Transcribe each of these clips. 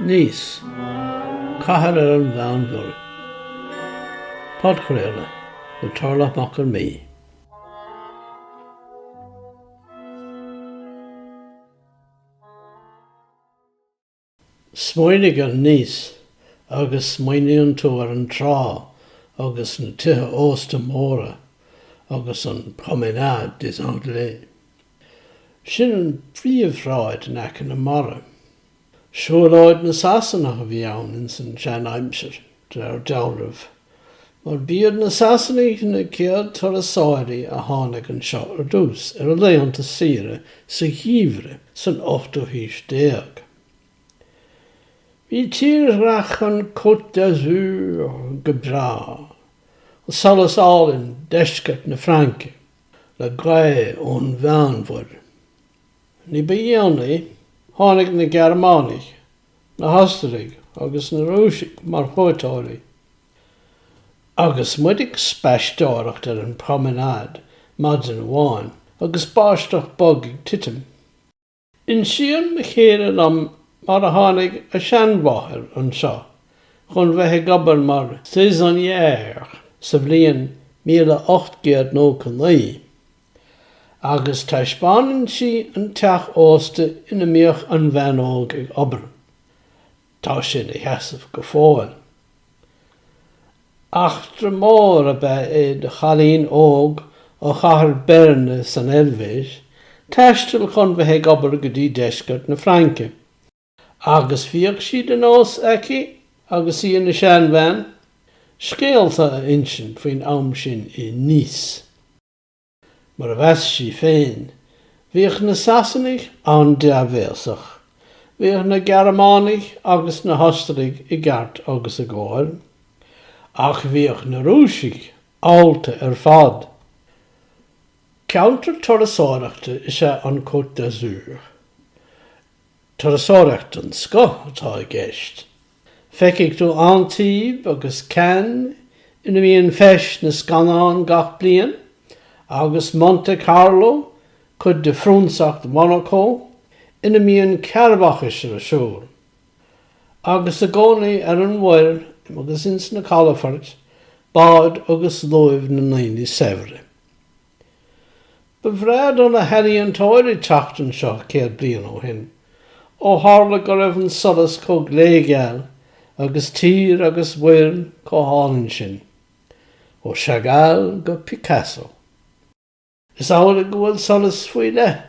Nice, cathair ar an Mheánmhuir. Podchraoladh le Tarlach Mac Con Midhe. Smaoinigh ar Nice agus smaoiníonn tú ar an trá agus na tithe ósta móra agus an Promenade des Anglais. Sin an phríomhshráid in aice na mara. Siúlóid na Sasanach a bhí ann ins an sean aimsir, de réir dealraimh, mar b'iad na Sasanaigh na chéad turasóirí a tháinig anseo ar dtús ar a laethanta saoire sa gheimhreadh san ochtú haois déag. Bhí tírdhreach an Côte d'Azur go breá, an solas álainn deisceart na Fraince, le gaoth ón Mheánmhuir, Ní ba dhéanaí, tháinig na Gearmánaigh, na hOstaraigh agus na Rúisigh mar chuairteoirí, agus muid ag spaisteoireacht ar an promenade maidin amháin agus báisteach bog ag titim. insíonn mo chéile dom mar a tháinig a seanmháthair anseo chun bheith ag obair mar saisonnière sa bhliain 1899. agus taispeánann sí an teach ósta ina mbíodh an bhean óg ag obair. Tá sé ina sheasamh go fóill. Eachtra mhór ab ea é do chailín óg ó chathair Beirne san Eilvéis taisteal chun bheith ag obair go dtí deisceart na Fraince, agus bhíodh sé de nós aici agus í ina seanbhean, scéalta a insint faoin am sin i Nice. Mar a mheas sí féin, bhíodh na Sasanaigh an-dea-bhéasach, bhíodh na Gearmánaigh agus na hOstaraigh i gceart agus i gcóir, ach bhíodh na Rúisigh allta ar fad. Ceantar turasóireachta is ea an Côte d'Azur. Turasóireacht den scoth atá i gceist, Feicfidh tú Antibes agus Cannes ina mbíonn Feis na Scannán gach bliain, agus Monte Carlo, cuid de Phrionsacht Mhonacó, ina mbíonn cearrbhachas ar siúl. Agus i gcónaí ar an mhuir agus ins na calafoirt, báid agus luaimh na ndaoine saibhre. Ba bhreá do na healaíontóirí teacht anseo céad bliain ó shin, ó tharla go raibh an solas chomh glégeal agus tír agus muir chomh hálainn sin. Ó Chagall go Picasso. Is amhlaidh go bhfuil solas faoi leith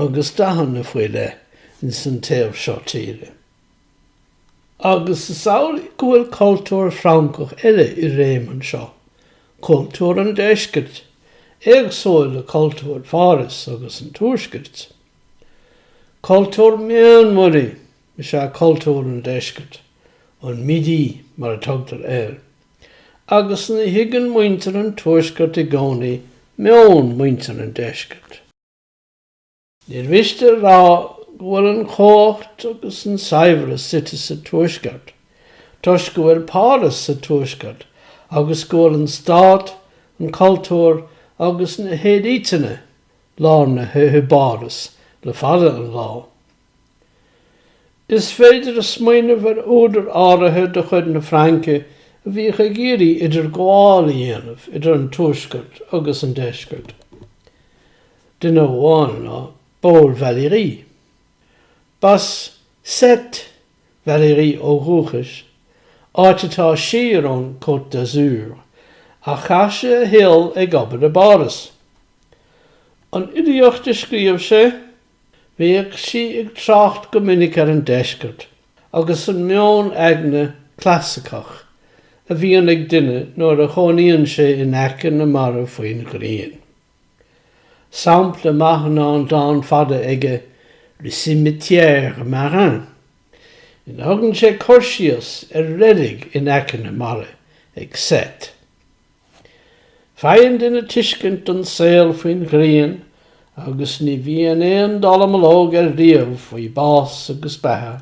agus dathanna faoi leith ins an taobh seo tíre. Agus is amhlaidh go bhfuil cultúr Francach eile i réim anseo, cultúr an deiscirt, éagsúil le cultúr Pháras agus an tuaiscirt. Cultúr Meánmhuirí is ea cultúr an deiscirt, an Midi mar a tugtar air, agus ní thuigeann muintir an tuaiscirt i gcónaí meon muintir an deiscirt. Níor mhiste a rá go bhfuil an chumhacht agus an saibhreas suite sa Tuaisceart, toisc go bhfuil Páras sa Tuaisceart agus go bhfuil an stát, an cultúr agus na héilíteanna lárnaithe i bPáras le fada an lá. Is féidir smaoineamh ar údair áirithe de chuid na Fraince a bhíodh ag iarraidh idirghabháil a dhéanamh idir an Tuaisceart agus an Deisceart. Duine amháin ná Paul Valéry. B'as Sète Valéry ó dhúchas, áit atá siar ón Côte d'Azur, ach chaith sé a shaol ag obair i bPáras. An fhilíocht a scríobh sé, Bhíodh sí ag trácht go minic ar an deisceart agus an meon aigne clasaiceach a bhíonn ag duine nuair a chónaíonn sé in aice na mara faoin ghrian. Sampla maith ná an dán fada aige Le cimetière marin ina thugann sé cur síos ar reilig in aice na mara ag Sète. Faigheann duine tuiscint don saol faoin ghrian agus ní bhíonn aon dallamullóg air riamh faoi bás agus beatha.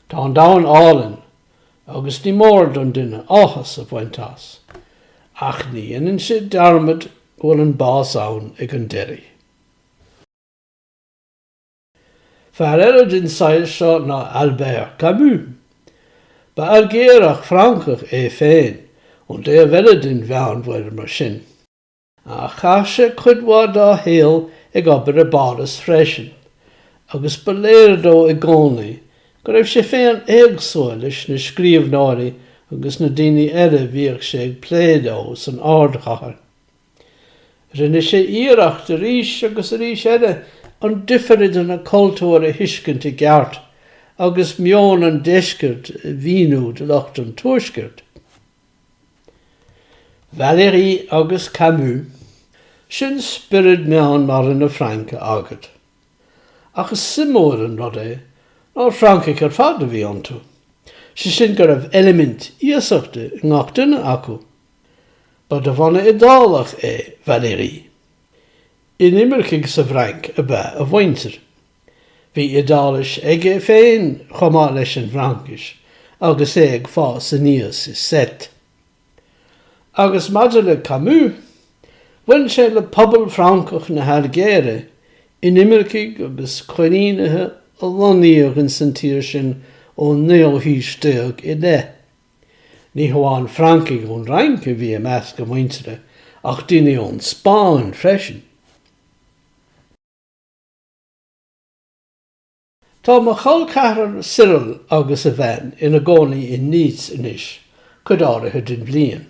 Tá an domhan álainn agus ní mór don duine áthas a bhaint as, ach ní dhéanann sé dearmad go bhfuil an bás ann ag an deiridh. Fear eile den tsaghas seo ná Albert Camus. Ba Ailgéarach Francach é féin, ón dtaobh eile den Mheánmhuir mar sin. Ach chaith sé cuid mhaith dá shaol ag obair i bPáras freisin, agus ba léir dó i gcónaí go raibh sé féin éagsúil leis na scríobhneoirí agus na daoine eile a bhíodh sé ag plé leo san ardchathair. Rinne sé iarracht arís agus arís eile an difir idir na cultúir a thuiscint i gceart agus meon an deiscirt a mhíniú do lucht an tuaiscirt. Valéry agus Camus, sin spiorad Meánmhara na Fraince agat. Ach is suimiúil an rud é nár Francaigh ar fad a bhí iontu, sé sin go raibh eilimint iasachta i ngach duine acu. Ba de bhunadh Iodálach é Valéry. Inimircigh sa bhFrainc ab ea a mhuintir. Bhí Iodáilis aige féin chomh maith leis an bhFraincis agus é ag fás aníos i Sète. Agus maidir le Camus, bhain sé le pobal Francach na hAilgéire, inimircigh agus coilínithe a lonnaíodh insa tír sin ón naoú haois déag i leith. Ní hamháin Francaigh ón Fhrainc a bhí i measc a muintire ach daoine ón Spáinn freisin. Tá mo chol ceathrar Cyril agus a bhean ina gcónaí in Nice anois cuid áirithe den bhliain.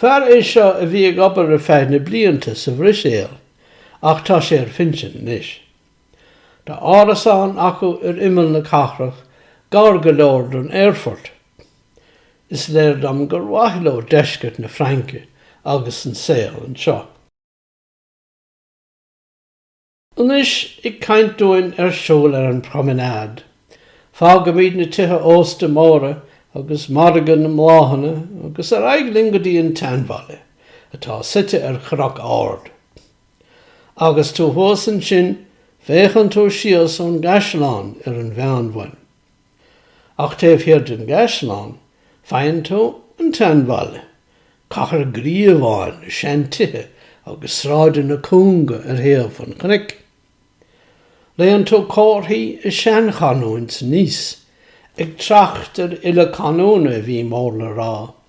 Fear é seo a bhí ag obair ar feadh na blianta sa Bhruiséal ach tá sé ar phinsean anois. Tá árasán acu ar imeall na cathrach, gar go leor don aerfort. Is léir dom gur maith leo deisceart na Fraince agus an saol anseo. Anois, ag caint dúinn ar siúl ar an promenade. Fágaimid na tithe ósta móra agus margadh na mbláthanna agus ar aghaidh linn go dtí an tseanbhaile, atá suite ar chnoc ard. Agus tú thuas ansin féachann tú síos ón gcaisleán ar an Mheánmhuir. Ach taobh thiar den gcaisleán faigheann tú an tseanbhaile, cathair ghríobháin le seantithe agus sráideanna cúnga ar thaobh an chnoic. Léann tú comharthaí i seanchanúint Nice ag trácht ar fhile canúna a bhí mór le rá.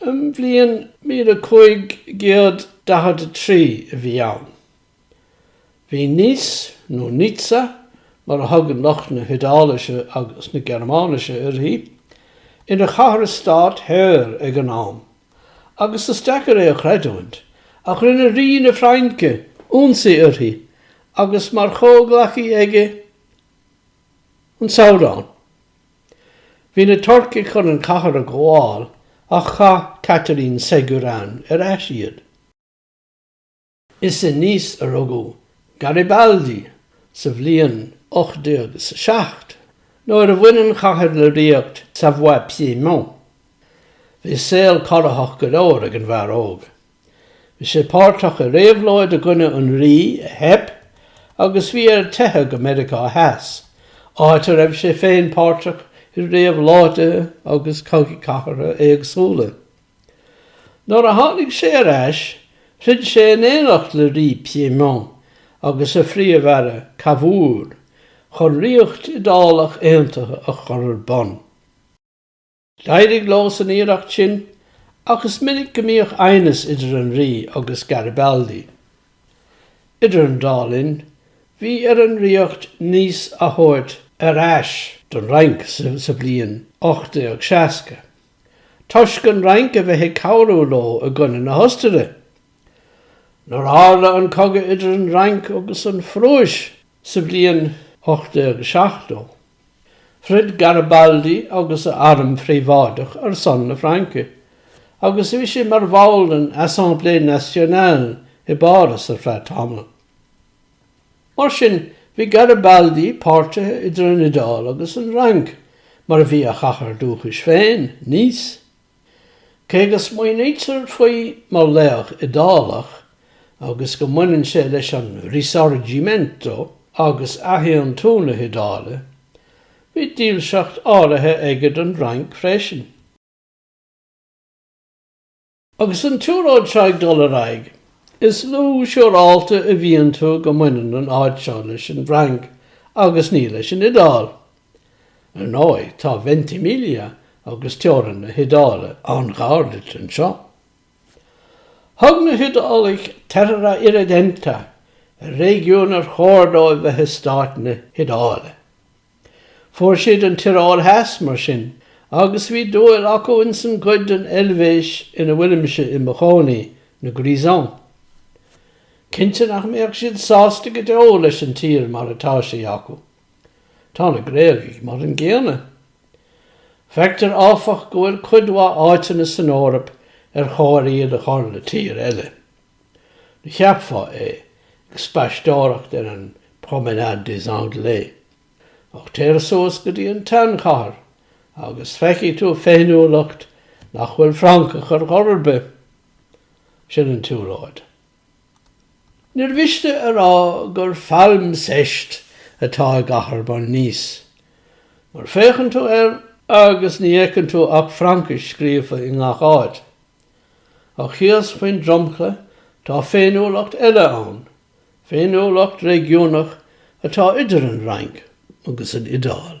An bhliain míle cúig gcéad daichead a trí a bhí ann. Bhí Nice, nó Nizza mar a thugann lucht na hIodálaise agus na Gearmáinise uirthi, ina chathair stáit shaor ag an am, agus is deacair é a chreidiúint, ach rinne Rí na Fraince ionsaí uirthi agus mar chomhghleacaí aige an Sabhdán. Bhí na Turcaigh chun an cathair a ghabháil ach chaith Catherine Ségurane ar ais iad. Is i Nice a rugadh Garibaldi sa bhliain 1807 nuair a bhain an chathair le ríocht Savoie-Piémont. Bhí saol corraitheach go leor ag an bhfear óg Bhí sé páirteach i réabhlóid i gcoinne an rí a theip agus bhí air teitheadh go Meiriceá Theas, áit a raibh sé féin páirteach i réabhlóidí agus cogaí cathartha éagsúla. Nuair a tháinig sé ar ais, throid sé in éineacht le Rí Piémont agus a phríomh-aire, Cavour, chun ríocht Iodálach aontaithe a chur ar bun. D'éirigh leo san iarracht sin ach is minic go mbíodh aighneas idir an Rí agus Garibaldi. Idir an dá linn, bhí ar an Ríocht Nice a thabhairt ar ais don Fhrainc sa bhliain 1860, toisc an Fhrainc a bheith ag cabhrú leo i gcoinne na hOstaire. Nuair a tharla an cogadh idir an Fhrainc agus an Phrúis sa bhliain 1870, throid Garibaldi agus a arm phríobháideach ar son na Fraince, agus bhí sé mar bhall den Assemblée Nationale i bPáras ar feadh tamaill. Mar sin, bhí Garibaldi páirtithe idir an Iodáil agus an Fhrainc, mar a bhí a chathair dúchais féin, Nice. Cé go smaoinítear faoi mar laoch Iodálach agus go mbaineann sé leis an Risorgimento agus athaontú na hIodáile, bhí dílseacht áirithe aige don bhFrainc freisin. Agus an tsiúlóid seo ag dul ar aghaidh, is lú siúráilte a bhíonn tú go mbaineann an áit seo leis an bhFrainc agus ní leis an Iodáil. Ar ndóigh tá Ventimiglia agus teorainn na hIodáile an-ghar duit anseo. Thug na hIodálaigh terra irredenta ar réigiún ar chóir dóibh bheith i stáit na hIodáile. Fuair siad an Tioróil Theas mar sin agus bhí dúil acu insan gcuid den Eilvéis ina bhfuilimse i mo chónaí, na Grisons. Cinnte nach mbeadh siad sásta go deo leis an tír mar atá sí acu. Tá na Gréagaigh mar an gcéanna. Feictear áfach go bhfuil cuid mhaith áiteanna san Eoraip ar chóir iad a chur le tír eile. Ní cheapfá é, ag spaisteoireacht ar an Promenade des Anglais. Ach téir suas go dtí an tseanchathair agus feicfidh tú féiniúlacht nach bhfuil Francach ar chor ar bith. Sin an tsiúlóid. Níor mhiste a rá gur phailmseist atá i gcathair mar Nice, mar féachann tú air agus ní fheiceann tú ach Fraincis scríofa i ngach áit. Ach thíos faoin dromchla tá féiniúlacht eile ann, féiniúlacht réigiúnach atá idir an Fhrainc agus an Iodáil.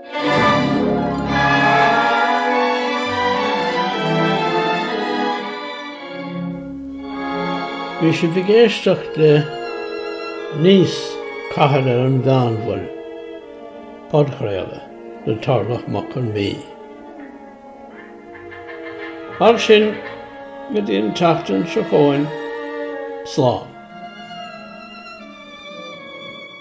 Bhí sibh ag éisteacht le Níos, Cathair ar an Meánmhuir, podchraoladh le Tarlach Mac Con Mí. Mar sin go dtí an tseachtain seo chugainn, slán.